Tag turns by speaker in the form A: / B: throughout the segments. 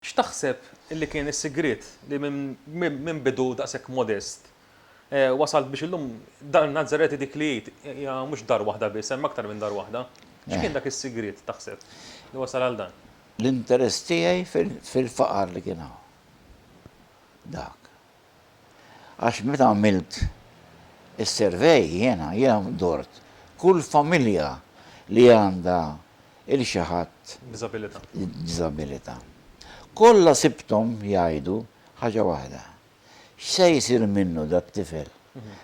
A: X'taħseb li kien is-sigriet li minn bidu daqshekk modest, wasalt biex illum Dar Nazzareti dik li hija mhux dar waħda biss, hemm aktar minn dar waħda. X'kien dak is-sigriet taħseb li wasal għal dan? L-interess tiegħi
B: fil-faqar li kien hawn. Dak. Għax meta għamilt is-survey jiena, jiena dort kull familja li għandha 'il xi ħadd b'diżabilità. Kollha sibthom jgħidu ħaġa waħda, x'se jsir minnu dat-tifel,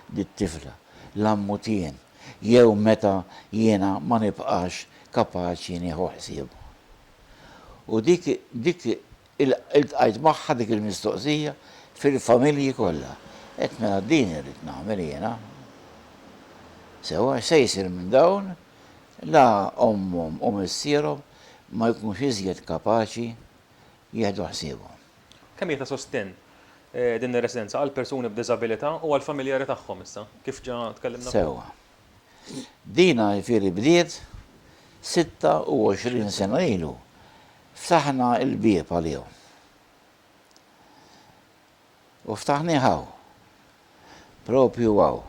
B: dit-tifla, la mmut jien jew meta jiena ma nibqax kapaċi nieħu ħsiebu. U dik Iltqajt magħha dik il-mistoqsija fil-familji kollha. Għedt mela din irrid nagħmel jiena. Sewwa, x'se jsir minn dawn? La ommhom u missierhom ma jkunux iżjed kapaċi jieħdu ħsiebhom. Kemm hija ta'
A: sostenn din ir-residenza għall-persuni b'diżabilità u għall-familjari tagħhom issa, kif ġa tkellimna fuq? Sewwa,
B: Dina jifieri bdiet 26 sena ilu. Ftaħna l-bieb għalihom. U ftaħnih hawn. Propju hawn.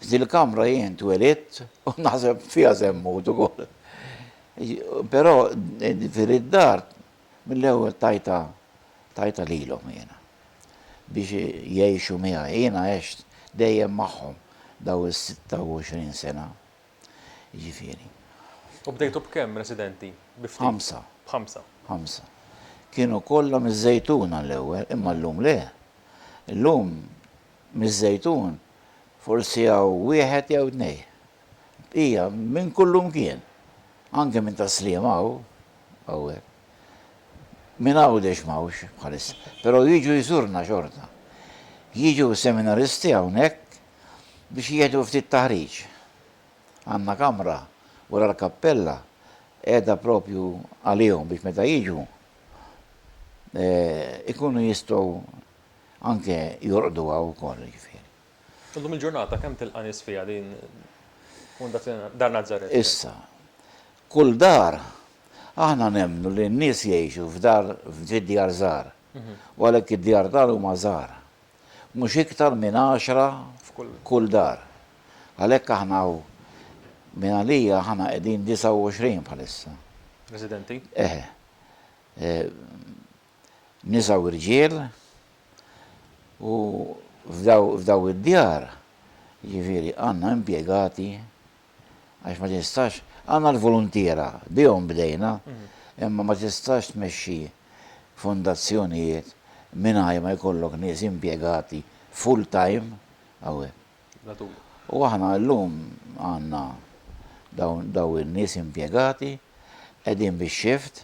B: F'dil kamra jien twelidt u naħseb fiha se mmut ukoll. Però jifieri d-dar Mill-ewwel tajtha tajtha lilhom jiena biex jgħixu miegħi. Jiena għext dejjem magħhom dawn is-26 sena, jiġifieri. U
A: bdejtu b'kemm residenti? Bi ftit? B'ħamsa.
B: B'ħamsa. Ħamsa.
A: Kienu
B: kollha miż-Żejtuna l-ewwel, imma llum le. Illum miż-Żejtun forsi hawn wieħed jew tnejn Bqija minn kullumkien, anke minn tas-Sliema hawn, hawnhekk. Minn Għawdex m'hawnx bħalissa, però jiġu jżurna xorta. Jiġu s-seminaristi hawnhekk biex jieħdu ftit taħriġ. Għandna kamra wara l-kappella qiegħda propju għalihom biex meta jiġu ikunu jistgħu anke jorqdu hawn ukoll, jiġifieri. Illum il-ġurnata
A: kemm tilqa' nies fiha din Fundazzjoni Dar Nazaret? Issa,
B: kull dar, aħna nemmnu li n-nies jgħixu f'dar f'djar żgħar, u għalhekk id-djar tagħna huma żgħar. Mhux iktar minn għaxra f'kull dar. Għalhekk aħna hawn minn għalija aħna qegħdin 29 bħalissa. Residenti?
A: Eħe.
B: nisa u rġiel, u f'dawn id-djar, jiġifieri għandna impjegati, għax ma tistax, għandna l-voluntiera, bihom bdejna, imma ma tistax tmexxi fondazzjonijiet mingħajr ma jkollok nies impjegati full time hawnhekk. U aħna llum għandna dawn in-nies impjegati, qegħdin bix-shift,